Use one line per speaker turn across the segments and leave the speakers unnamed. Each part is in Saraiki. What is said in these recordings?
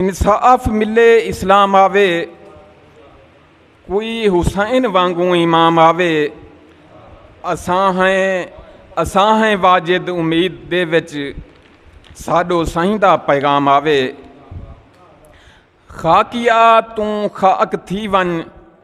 انصاف ملے اسلام آوے کوئی حسین وانگوں امام آوے اساں ہیں اساں ہیں واجد امید دے وچ ساڈو سائیں دا پیغام آوے خاکیا توں خاک تھی ونج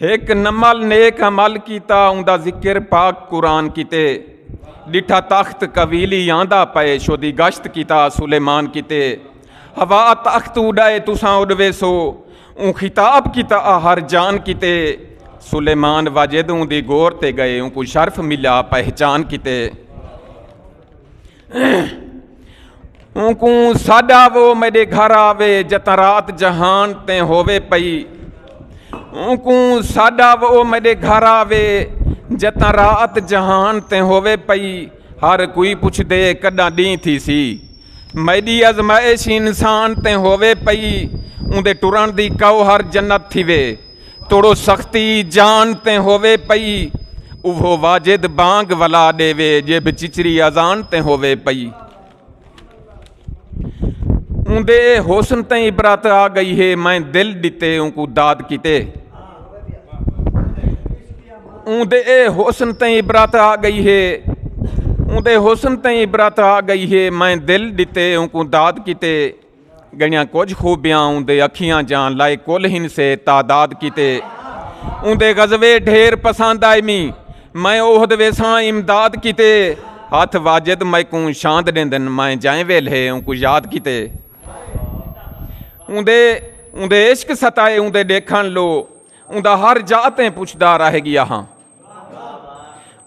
ہک نمل نیک عمل کیتا اوندا ذکر پاک قرآن کیتے ڈٹھا تخت قویلی آندا پئے شودی گشت کیتا سلیمان کیتے ہوا تخت اڈائے تساں اڈوے سو اون خطاب کیتا ہر جان کیتے سلیمان واجد اون دی گور تے گئے اون کو شرف ملا پہچان کیتے اونکوں ساڈا وہ میڈے گھر آوے جتاں رات جہان تیں ہووے پئی اونکوں ساڈا وہ میڈے گھر آوے جتاں رات جہان تیں ہووے پئی ہر کوئی پوچھ دے کڈاں ڈی تھی سی میڈی ازمائش انسان تیں ہووے پئی اوندے ٹرن دی کو ہر جنت تھی وے توڑو سختی جان تے ہووے پئی اوہو واجد بانگ ولا ڈیوے جے بچچری اذان تے ہووے پئی اوندے حسن تے عبرت آ گئی ہے میں دل ڈتے اون کو داد کیتے اوندے حسن تے عبرت آ گئی ہے اوندے حسن تے عبرت آ گئی ہے میں دل ڈتے اون کو داد کیتے گئیاں کجھ خوبیاں اوندے اکھیاں جاں لائے کل ہن سے تعداد کیتے اوندے غزوے ڈھیر پسند آئے می میں اوہد ویساں امداد کیتے ہاتھ واجد میکوں شاند ڈیندن میں جائیں ویل ہے اونکو یاد کیتے اوندے اوندے عشق ستائے اوندے ڈیکھن لو اوندا ہر جاتیں پوچھدا رہ گیا ہاں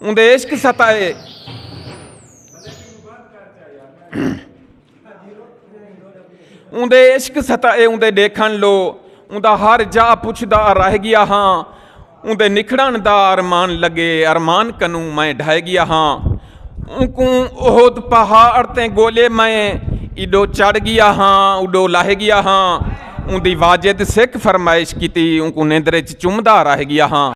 اوندے عشق ستائے اوندے عشق ستائے اوندے ڈیکھن لو اوندا ہر جا پچھدا رہ گیا ہاں اوندے نکھڑن دا ارمان لگے ارمان کنوں میں ڈھہ گیا ہاں اونکوں اہد پہاڑ تے گولے میں ایڈو چڑھ گیا ہاں اڈو لہ گیا ہاں اوندی واجد سکھ فرمائش کیتی اونکوں نیندرے چ چمدا رہ گیا ہاں